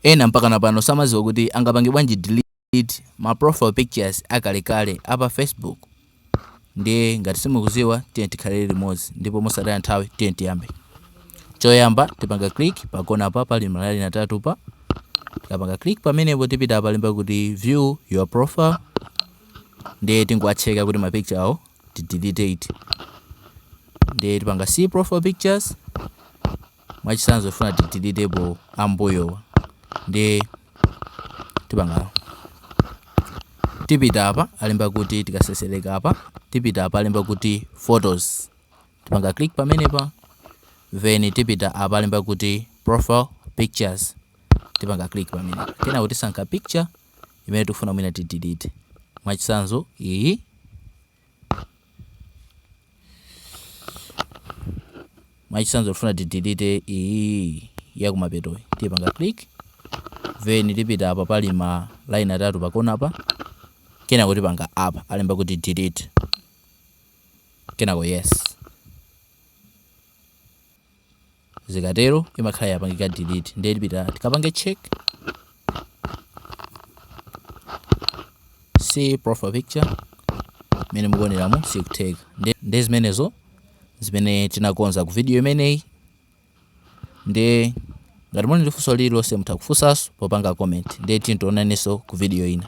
Ena mpakana pano samadziwa kuti angapange bwanji delete ma profile pictures akalekale a pa Facebook. Ndiye ngati simukudziwa tiyeni tikhalire limodzi ndipo mosataya nthawi tiyeni tiyambe. Poyamba tipanga click pa kona apa pali ma line atatu pa. Tikapanga click pamenepo tipita palemba kuti view your profile. Ndiye tingowatcheka kuti ma picture wo tidelete ati. Ndiye tipanga see profile pictures. mwachitsanzo tifuna tideletepo ambuyowa ndiye tipanga tipita apa alemba kuti tikasesereka apa tipita apa alemba kuti photos tipanga click pamenepa then tipita apa alemba kuti profile pictures tipanga click pamenepa kenako tisankha picture imene tikufuna mwina tidelete mwachitsanzo iyi mwachitsanzo tifuna tidelete iyi yakumapetoyi tipanga click then tipita apa pali ma line atatu pakona apa kenako tipanga apa alemba kuti delete kenako yes zikatero imakhala yapangika delete ndiye tipita tikapange check see profile picture imene mukuoneramo sikutheka Nde- ndi zimenezo zimene tinakonza ku video imeneyi ndiye ngati muli ndi funso lililonse mutha kufunsanso popanga comment ndiye tidzaonanenso ku video ina